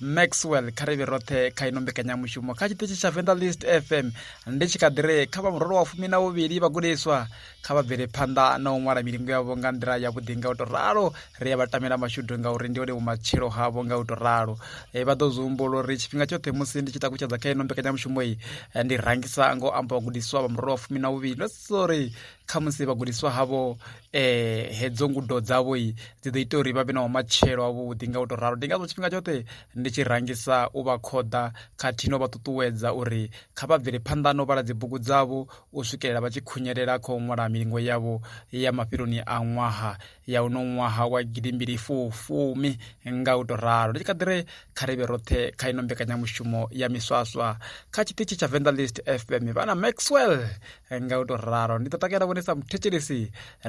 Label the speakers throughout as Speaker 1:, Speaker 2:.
Speaker 1: maxwell kha ri vhe roṱhe kha ino mbekanyamushumo kha tshiṱitshi tsha venda list fm ndi tshi kha ḓi re kha vha murolo wa fumi na vhuvhili vhagudiswa kha vha bvele phanḓa na u ṅwala milingo yavho nga nḓila yavhuḓi nga u tou ralo ri ya vha tamela mashudu ngauri ndi one vhumatshelo havho nga u tou ralo e, vha ḓo zwi humbula uri tshifhinga tshoṱhe musi ndi tshi takutshedza kha ino mbekanyamushumo iyi e, ndi rangisa ngo amba vhagudiswa vha murolo wa fumi na vhuvhili ndo sori khamusi vhagudiswa havho eh hedzo ngudo dzavho dzi ḓo ita uri vha vhe na matshelo avhuḓi nga u to ralo ndi ngazwo tshifhinga tshoṱhe ndi tshi rangisa u vha khoḓa khathihi no vha ṱuṱuwedza uri kha vha bvele phanḓa no vhala dzibugu dzavho u swikelela vha tshi khunyelela kha u ṅwala milingo yavho ya mafheloni a ṅwaha ya uno ṅwaha wa gidimbili fumi nga u to ralo ndi tshi kha ḓire kha ri vhe roṱhe kha ino mbekanyamushumo ya miswaswa kha tshiṱitshi tsha venḓa list fm vha na maxwell nga u tou ralo ndi ḓo takalela vhone sa muthetshelesi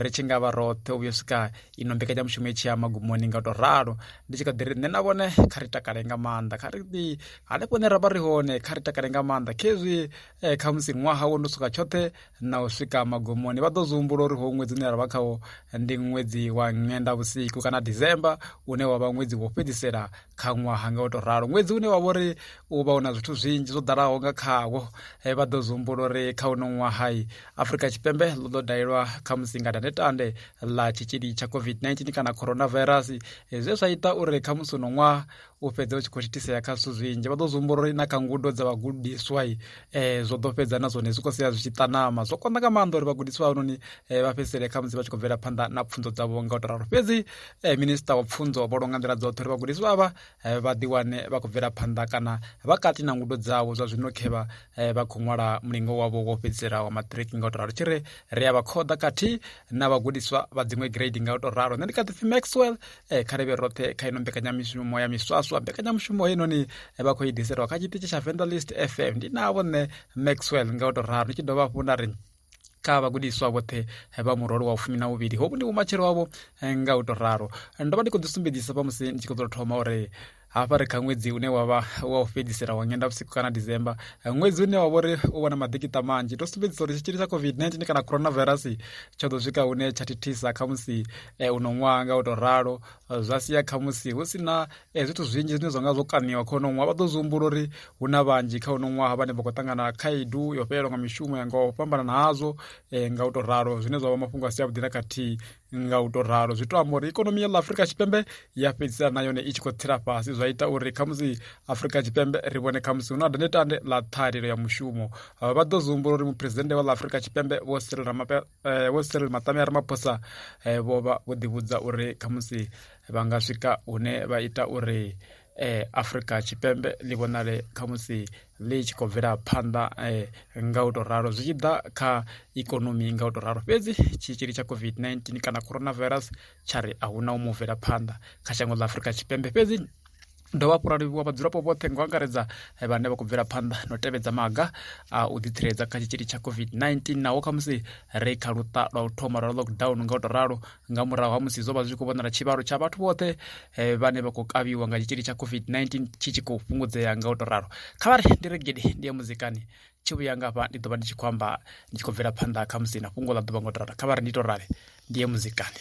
Speaker 1: ri tshi nga vha roṱhe u vhuyo swika ino mbekanyamushumo i tshi ya magumoni nga u tou ralo ndi tshi kha ḓi ri nṋe na vhone kha ri takale nga maanḓa kha ri ḓi hanefho hune ra vha ri hone kha ri takale nga maanḓa khezwi eh, kha musi ṅwaha wo no swika tshoṱhe na u swika magumoni vha ḓo zwi humbula uri ho ṅwedzi une ra vha khawo ndi ṅwedzi wa ṅenda vhusiku kana december une wa vha ṅwedzi wo fhedzisela kha ṅwaha nga u to ralo ṅwedzi une wa vha uri u vha u na zwithu zwinzhi zwo ḓalaho nga khawo eh, vha ḓo zumbula uri kha uno ṅwahai afurika tshipembe ḽo ḓo dalelwa kha musinga tandetande ḽa tshitzhili tsha covid-19 kana coronavirus eh, zwe zwa ita uri kha musi uno ṅwaha u fhedze u tshi khou thithisea kha zwithu zwinzhi vha ḓo zumbula uri na kha ngudo dza vhagudiswa eh, zwo ḓo fhedza na zwone zwi khou sia zwi tshi ṱanama zwo konḓa nga maanḓa uri vhagudiswa havhanoni eh, vha fhedzisele kha musi vha tshi khou bvela phanḓa na pfunzo dzavho nga u to ralo fhedzi eh, minista wa pfunzo vho longa nḓila dzoṱhe uri vhagudiswa avha eh, vha ḓiwane vha khou bvela phanḓa kana vha kati na ngudo dzavho zwa zwino khevha eh, vha khou ṅwala mulingo wavho wo fhedzisela wa matric nga u to ralo tshi ri ri a vha khoḓa khathihi na vhagudiswa vha dziṅwe grade nga u to ralo nṋe ndi kha ḓipfi maxwell e kha rivhe roṱhe kha ino mbekanyamushumo ya miswaswa mbekanyamushumo heinoni eh, vha khou i diselwa kha tshiṱitshi tsha vendalist fm ndi navho nṋe maxwell nga u tou ralo ndi tshi dovha hafhu nda ri kha vhagudiswa vhoṱhe eh, vha murole wa fumi na vhuvhili hovhu ndi vhumatshelo wavho nga u tou ralo ndo vha ndi khou ḓisumbedzisa vha musi ndi tshi khou ḓo thoma uri hafha ri kha ṅwedzi une wa vha wa u fhedzisela wa nyendavhusiku kana december ṅwedzi une wa vha uri u vha na maḓikiṱa manzhi to sumbedzisa uri tshitzhili tsha covid-19 kana coronavirus tsho ḓo swika hune tsha thithisa kha musi eh, uno ṅwaha nga u tou ralo zwa sia kha musi hu si na eh, zwithu zwinzhi zwine zwa nga zwo kaniwa kha uno ṅwaha vha ḓo zwi humbula uri hu na vhanzhi kha uno ṅwaha vhane vha khou ṱangana khaedu yo fhelelwa nga mishumo ya nga u fhambana hazwo eh, nga u tou ralo zwine zwa vha mafhungo a si avhuḓi na khathihi nga u tou ralo zwi to amba uri ikonomi ya ḽa afurika tshipembe ya fhedzisela na yone i tshi khou tsela fhasi zwa ita uri khamusi afurika tshipembe ri vhone khamusi hu na dandetande ḽa ṱhahelelo ya mushumo vha ḓo zwi humbula uri muphuresidennde wa ḽa afurika tshipembe vho siril eh, maṱame a ramaphosa eh, vho vha vho ḓivhudza uri khamusi vha nga swika hune vha ita uri eh, afurika tshipembe ḽi vhonale khamusi ḽi tshi khou bvela phanḓa nga u tou ralo zwi tshi ḓa kha ikonomi nga u tou ralo fhedzi tshitzhili tsha COVID-19 kana corona virus tsha ri a huna u mu bvela phanḓa kha shango ḽa Afurika Tshipembe fhedzi dovha hafhu ra livhuwa vhadzulapo vhoṱhe nga u angaredza vhane vha khou bvela phanḓa na u tevhedza maga a u ḓitsireledza kha tshitzhili tsha COVID-19 naho khamusi ri kha luṱa lwa u thoma lwa lockdown nga u tou ralo nga murahu ha musi zwo vha zwi khou vhonala tshivhalo tsha vhathu vhoṱhe eh, vhane vha khou kavhiwa nga tshitzhili tsha covid-19 tshi tshi khou fhungudzea nga u to ralo kha vha ri ndi re gidi ndi ya muzikani tshi vhuya nga hafha ndi ḓo vha ndi tshi khou amba ndi tshi khou bvela phanḓa kha musi na fhungo ḽa ḓuvha nga u to ralo kha vha ri ndi to rale ndi ye muzikani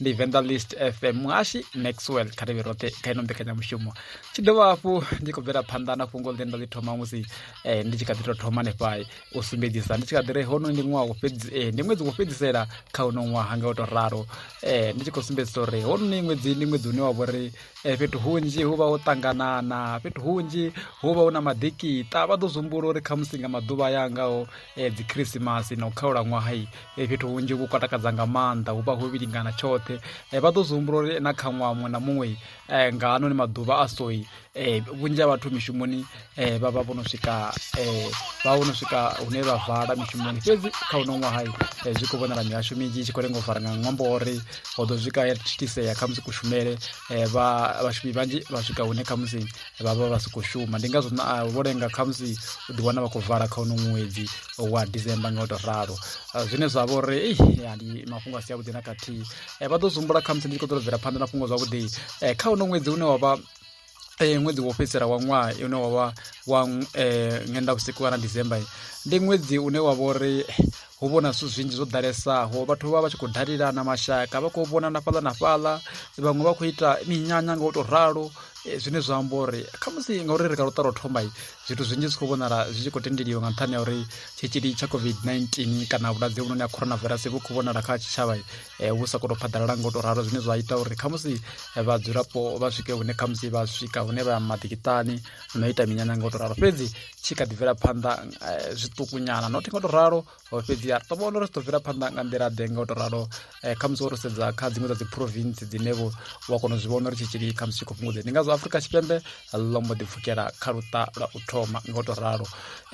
Speaker 1: ndi venḓa list fm muhashi maxwell kha ri vhe roṱhe kha ino mbekanyamushumo tshi dovha hafhu ndi khou bvela phanḓa na fhungo ḽine nda ḽi thoma musi eh, ndi tshi kha ḓi tou thoma nefhai u sumbedzisa ndi tshi kha ḓi re hono ndi ṅwaha eh, ndi ṅwedzi wo fhedzisela kha uno ṅwaha nga u tou ralo eh, ndi tshi khou sumbedzisa uri hono ni ṅwedzi ndi ṅwedzi une wa vho ri fhethu hunzhi hu vha ho ṱanganana fhethu hunzhi hu vha hu na maḓikita vha ḓo zwi humbula uri khamusi nga maḓuvha ya ngaho e, dzikhrisimasi na u khaula ṅwahai e, fhethu hunzhi vhu kwa takadza nga maanḓa hu vha ho vhilingana tshoṱhe e, vha ḓo zwi humbula uri na kha ṅwaha muṅwe na muṅwe e, nga hanoni maḓuvha a soi e, vhunzhi ha vhathu mishumoni e, vha vha vho no swika e, vha vho no swika hune vha vala mishumoni fhedzi kha uno ṅwahai e, zwi khou vhonala mihasho minzhi i tshi khou lenga u fara nga ṅwambo uri ho ḓo swika ya thithisea khamusi kushumele e, vhashumi vhanzhi vha swika hune khamusi vha vha vha si khou shuma ndi ngazwo ah, vho lenga khamusi u ḓi wana vha khou vala kha uno ṅwedzi wa december nga u tou ralo ah, zwine zwa vha uri ndi mafhungo a si avhuḓi na khathihi eh, vha ḓo zumbula khamusi ndi tshi khou ḓo bvela phanḓa na fhungo zwavhuḓi eh, kha uno ṅwedzi une wa vha eh, ṅwedzi wo fhedzisela wa ṅwaha une wa vha wa ṅwenda vhusiku kana december ndi ṅwedzi une wa vha uri hu vhona zwithu zwinzhi zwo ḓalesaho vhathu vha vha tshi khou dalelana mashaka vha khou vhonana fhaḽa na fhaḽa vhaṅwe vha khou ita minyanya nga u tou ralo eh, zwine zwa amba uri khamusi ngauri ri ka luṱa lwo thomai zwithu zwinzhi zwi khou vhonala zwi tshi khou tendeliwa nga nṱhani ya uri tshitzhili tsha covid-19 kana vhulwadze vhunoni ha coronavirus vhu khou vhonala kha tshitshavha eh, vhu sa khou tou phaḓalala nga u tou ralo zwine zwa ita uri khamusi eh, vhadzulapo vha swike hune khamusi vha swika hune vha maḓikiṱani no ita minyanya nga u tou ralo fhedzi tshi kha ḓi bvela phanḓa eh, zwiṱukunyana not nga u to ralo oh, fhedzi ya ṱo vhona uri zwi ḓo bvela phanḓa nga nḓila ḓe nga u to ralo eh, khamusi wo to sedza kha dziṅwe dza dzi province dzine vho wa kona u zwi vhona uri tshitzhili khamusi tshi khou fhungudze ndi ngazwo afurika tshipembe ḽo mbo ḓi pfukela kha luṱa lwa u thoma nga u to ralo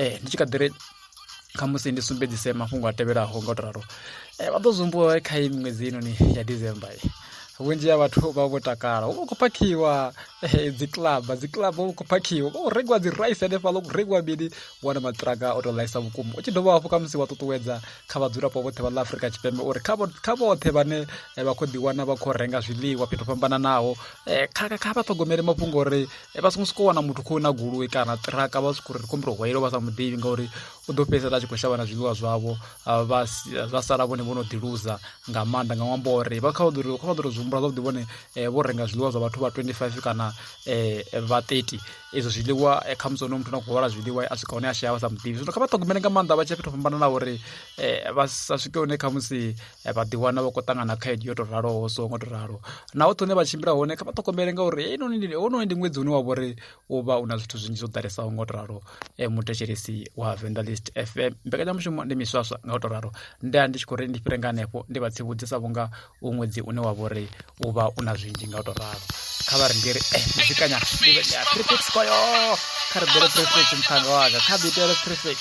Speaker 1: um ndi tshi kha ḓi ri khamusi ndi sumbedzise mafhungo a tevhelaho nga u to ralo um vha ḓo zwi humbuwa kha i miṅwedzi inoni ya december vhunzhi ha vhathu vha vho takala hu vha khou phakhiwa eh, dzi club dzi club hu khou phakhiwa vha khou rengiwa dzi rice hanefhaḽa khou rengiwa mini wana maṱiraka o tou ḽaisa vhukuma u tshi dovha hafhu kha musi wa ṱuṱuwedza kha vhadzulapo vhoṱhe vha ḽa afurika tshipembe uri kha vhoṱhe vhane eh, vha khou ḓiwana vha khou renga zwiḽiwa fhethu fhambananaho eh, kha vha ṱhogomele mafhungo uri vha songo sokou wana muthu khou na goloi kana ṱiraka vha sokou ri kumbula hwayelo vha sa muḓivhi ngauri u ḓo fhedzisela a tshi khou shavha na zwiḽiwa zwavho vha zwa sala vhone vho no ḓiluza nga maanḓa nga ṅwambo uri vha kha ḓo kha ḓo zwi humbula zwavhuḓi vhone vho renga zwiḽiwa zwa vhathu vha 25 kana vha 30 ezwo zwiḽiwa khamusi ono muthu na khou hwala zwiḽiwa a swika hone a shaya vha sa muḓivhi zwino kha vha ṱhogomele nga maanḓa vha tshi fhethu fhambananaho uri vha sa swike hone khamusi vha ḓiwana vha khou ṱangana khaedu yo tou raloho so ngo tou ralo na hoṱhe hune vha tshimbila hone kha vha ṱhogomele ngauri heinoni ndi ṅwedzi une wa vha uri u vha u na zwithu zwinzhi zwo ḓalesaho nga u to ralo eh, muthetshelesi wa vendelist fm mbekanyamushumo ndi miswaswa nga u to ralo ndi a ndi tshi khou ri ndi fhire nga hanefho ndi vha tsivhudze sa vhunga u ṅwedzi une wa vha uri u vha u na zwinzhi nga u to ralo kha vha ri ndi ri eh muzikanya ndi vhe ndi a prefix koyo kha ri bele prefix mphanga waka kha ḓi itele prefix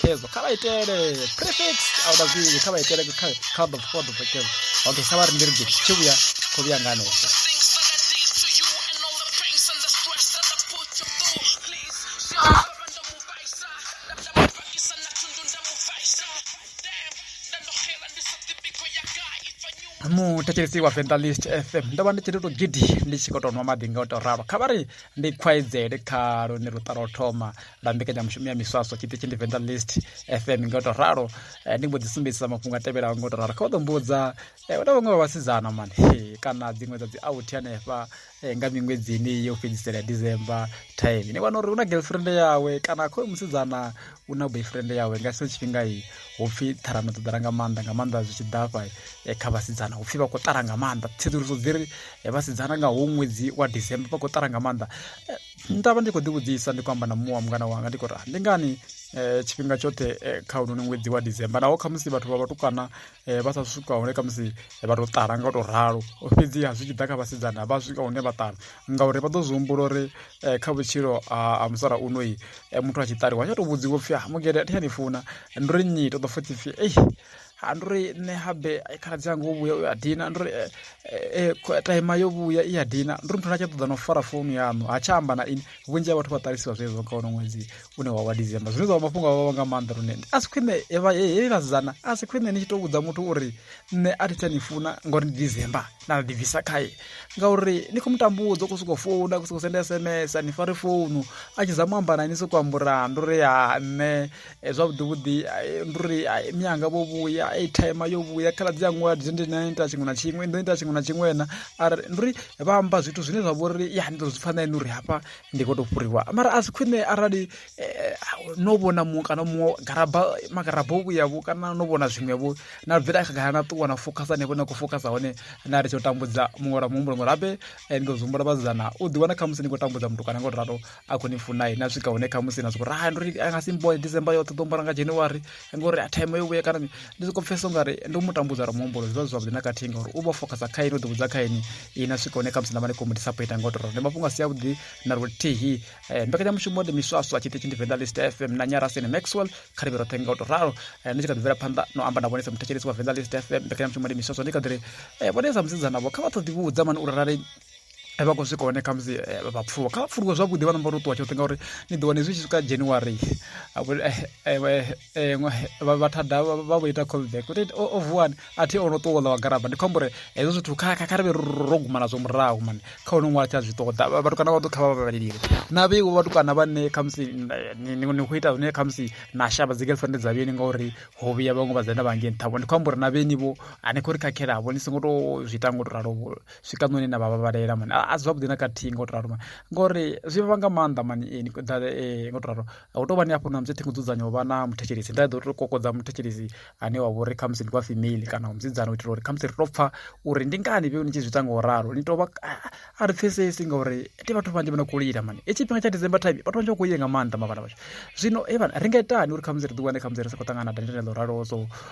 Speaker 1: khezo kha vha itele prefix a uda zwinzhi kha vha itele kha ḓo fo ḓo khezo okay kha vha ri ndi ri gidi tshi vhuya kho vhuya nga hanefho muthetshelesi wa venḓa list fm ndo vha ndi tshi ri to gidi ndi tshi khou tou nwa maḓi nga u tou ralo kha vha ri ndi khwaedzele kha lune luṱa lwa u thoma na mbekanyamushumo ya miswaswa tshiṱitshi ndi venḓa list fm nga u tou ralo eh, ndi mbo ḓi sumbedzisa mafhungo a tevhelaho nga u tou ralo kha u ḓo mbudza eh, na vhaṅwe vha vhasidzana mani kana dziṅwe dza dzi authi hanefha eh, nga miṅwedzini yo fhedzisela ya december time ni wana uri hu na girlfriend yawe kana khoyo musidzana u na boyfriend yawe nga sino tshifhinga i hu pfhi ṱharano ḓo ḓala nga maanḓa nga maanḓa zwi tshi ḓafha kha vhasidzana hu pfhi vha khou ṱara nga maanḓa tsedzuluso dzi ri vhasidzana nga hu ṅwedzi wa december vha khou ṱara nga maanḓa nda vha ndi khou ḓivhudzisa ndi khou amba na muṅwe wa mungana wanga ndi khou ri ah, ndi ngani um tshifhinga tshoṱhe eh, kha unoni ṅwedzi wa december naho khamusi vhathu vha vhatukana eh, vha sa swika hune khamusi vha tou ṱala nga u tou ralo fhedziha zwi tshi ḓa kha vhasidzana vha swika hune vha ṱala ngauri vha ḓo zwi humbula uri kha vhutshilo ha musala unoi muthu a tshi ṱaliwa tsha tou vhudziwa pfhi ah, mugede a thi tsha ni funa ndi ri nnyi to ḓo futhi pfhi ei ha ndi uri nṋe habe khaladzi anga o vhuya u ya dina ndi uri eh, eh, eh, taima yo vhuya i ya dina ndi uri muthu na tsha ṱoḓa na u fara founu yaṋu ha tsha amba na ini vhunzhi ha vhathu vha ṱalisiwa zwezwo kha wono ṅwedzi une wa wa december zwine zwa vha mafhungo a vhavha nga maanḓa lune a si khwine hei vhasidzana a si khwine ni tshi tou vhudza muthu uri nṋe a thi tsha ni funa ngauri ndi december na ri ḓibvisa khae ngauri ni khou mutambudza u khou sokou founa u khou sokou senda sms ni fare founu a tshi zama u amba na ini sokou ambura ndi uri ha nṋe eh, zwavhuḓi vhuḓi eh, ndi uri eh, mianga vho vhuya aitime yo vhuya khaladzi ya ṅwala ndi ndi nani ita tshiṅwe na tshiṅwe ndo ita tshiṅwe na tshiṅwe na ari ndi uri vha amba zwithu zwine zwa vha uri ya ndi ḓo zwi pfha na ene uri hafha ndi khou tou fhuriwa mara a si khwine arali no vhona muṅwe kana muṅwe garaba magaraba o vhuyavho kana no vhona zwiṅwevho na bvela khagala na ṱuwa na fokhasa hanefho na khou fokhasa hone na ri tsho tambudza muṅwe lwa muhumbulo ngori habe ndi ḓo zwi humbula vhasidzana u ḓiwana khamusi ni khou tambudza muthu kana nga u ralo a khou ni funa na swika hune khamusi na sokou ri hai ndo ri a nga si mboe december yoṱhe ḓo mbora nga january ngori a time yo vhuya kana ndi sokou pfhesa u nga ri ndi u mu tambudza ra muhumbulo zwi vha zwi zwavhuḓi na khathihi ngauri u vha focusa kha ini u ḓivhudza kha ini i na swika hune khamusi na vha ni khou mu disappointa nga u tou ndi mafhungo a si avhuḓi na luthihi eh, mbekanyamushumo ndi miswaswa tshiṱitshi ndi venḓa list fm na nyarasini maxwell kha ri vhe roṱhe nga u tou ralo eh, ndi tshi kha ḓi bvela phanḓa no amba na vhone sa muthetshelesi wa venḓa list fm mbekanyamushumo ndi miswaswa ndi kha ḓi ri eh, vhone sa musidzanavho kha vha ṱoḓivhudza mani uri rali a vha khou swika hone khamusi eh, vha pfuluwa kha vha pfuluwe zwavhuḓi vha namba uri ṱuwa tshoṱhe ngauri ni ḓo wane zwi tshi swika january eh, eh, vha thada vha vho ita callback uri o oh, oh, vuwani a thi o no ṱuwa ḽa wa garaba ndi khou amba uri hezwo zwithu kha ri vhe ro guma nazwo murahu mani kha hone ṅwala tsha zwi ṱoḓa vhatukana vha ḓo kha vha vhabalelile na vheiwo vhatukana vhane khamusi ni khou ita zwine khamusi na shavha dzi girlfriend dza vheni ngauri ho vhuya vhaṅwe vha dzenda vha ngei nṱhavho ndi khou amba uri na vheni vho a ni khou ri khakhelavo ni songo to zwi ita ngo to ralo swika noni na vhavhavalela mani a zwavhuḓi na khathihi ngo to ralo mani ngori zwi vha nga maanḓa mani eh, eh, ngo to ralo hu tou vha ni hafho na musi thingo dzudzanya u vha na muthetshelesi nda ḓo to kokodza muthetshelesi ane wa vhori khamusi ndi wa female kana musidzana u itela uri khamusi ri to pfha uri ndi ngani vhe ni tshi zwi ita nga u ralo ni tovha a ri pfhesesi ngauri ndi vhathu vhanzhi vha no khou lila mani e tshifhinga tsha december time vhathu vhanzhi vha khou lila nga maanḓa mavhala vhashu zwino e vhana ri nga itani uri khamusi ri ḓi wane khamusi ri sa khou ṱangana na dandela ḽo ralo so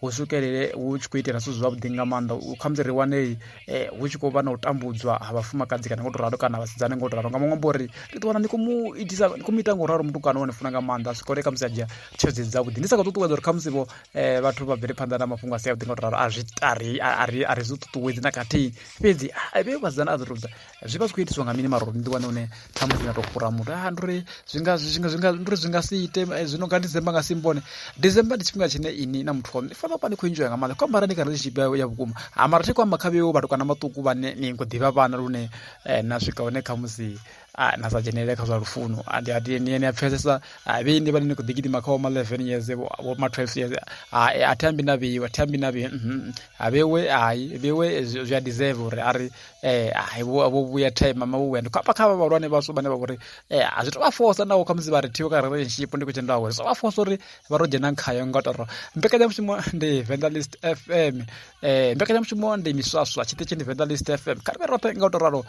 Speaker 1: hu swikelele hu tshi khou itela zwithu zwavhuḓi nga maanḓa khamusi ri wane eh, hu tshi khou vha na u tambudzwa ha vhafumakadzi kana ngo to ralo kana vhasidzane ngo to ralo nga maṅwe amba uri ri ḓiwana ndi khou mu itisa ndi khou mu ita ngo ralo mutukana wa ni funa nga maanḓa a swikole khamusi a dzhia tshedzi dzavhuḓi ndi sa khou ṱuṱuwedza uri khamusi vho eh, vhathu vha bvele phanḓa na mafhungo a si avhuḓi ngo to ralo a zwi a ri zwi ṱuṱuwedzi na khathihi fhedzi vhe vhasidzana a zwi rudza Zwi vha zwi khou itiswa nga mini mara uri ni ḓiwane hune ṱhamusi na tou fhura muthu a ndi uri zwi nga zwi nga zwi nga ndi uri zwi nga si ite eh, zwino nga December nga si mbone December ndi tshifhinga tshine ini na muthu waṋu ni fanela vha ni khou enjoya nga maanḓa khou ambara ni kha relationship ya, ya vhukuma ha mara thi khou amba kha vheo vhatukana vhaṱuku vhane ni khou ḓivha vhana lune eh, na swika hune kha musi ah, na sa dzhenelele kha zwa lufuno Ah, ndi a- ndi- ni ni a pfesesa ah, vhei ndi vhane ni khou ḓi gidima kha vho ma 11 years vho vho ma 12 years ah, eh, a thi ambi na vheiwe a thi ambi na vheiwe mhm. ha vheiwe hai vheiwe zwi zwi a deserve uri a ri eh ai vho vho vhuya time mama vho vhuya ndi khapa kha vhalwane vhashu vhane vha vhori eh a zwi to vha force nawo kha musi vha ri thiwe ka relationship ndi khou tenda uri zwi vha force uri vha ro dzhena khayo nga toro mbekanyamushumo ndi Vandalist FM eh mbekanyamushumo ndi miswaswa tshiṱitshi ndi Vandalist FM kha ri roṱhe nga u to ralo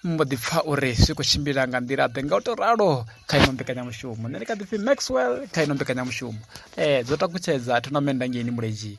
Speaker 1: mbo ḓi pfa uri zwi khou tshimbila nga nḓila ḓe nga u to ralo kha ino mbekanyamushumo nṋe ndi kha ḓipfi maxwell kha ino mbekanyamushumo um dzo takutshedza thonamennda ngeini muledzhi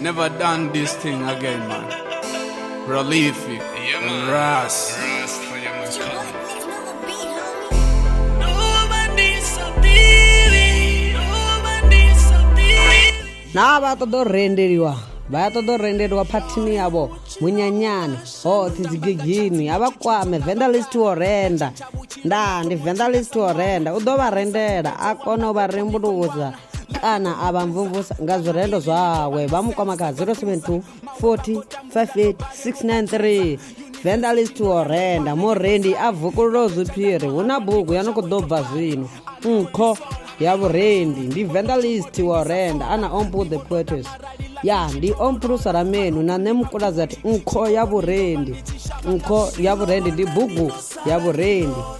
Speaker 2: Never done this thing again, man. Prolific yeah, man. and Ras. Ras for
Speaker 3: your man, cousin. naa vha ṱoḓa u rendeliwa vha ya ṱoḓa u rendeliwa phathini yavho munyanyani hoṱhe dzigigini a vha kwame vendalist wo renda ndaa ndi vendalist wo renda u ḓo vha rendela a kona u vha rembuluza kana a vha mvumvusa nga zwirendo zwawe vha mu kwama kha 072 40 58 693 venḓa list wo renda murendi a vukululo zwiphiri hu na bugu ya no khou ḓo bva zwino nkho ya vhurendi ndi venḓa list wo renda ana ompu the poetes ya ndi ompulusa ra menu na nṋe mukulazati nkho ya vhurendi nkho ya vhurendi ndi bugu ya vhurendi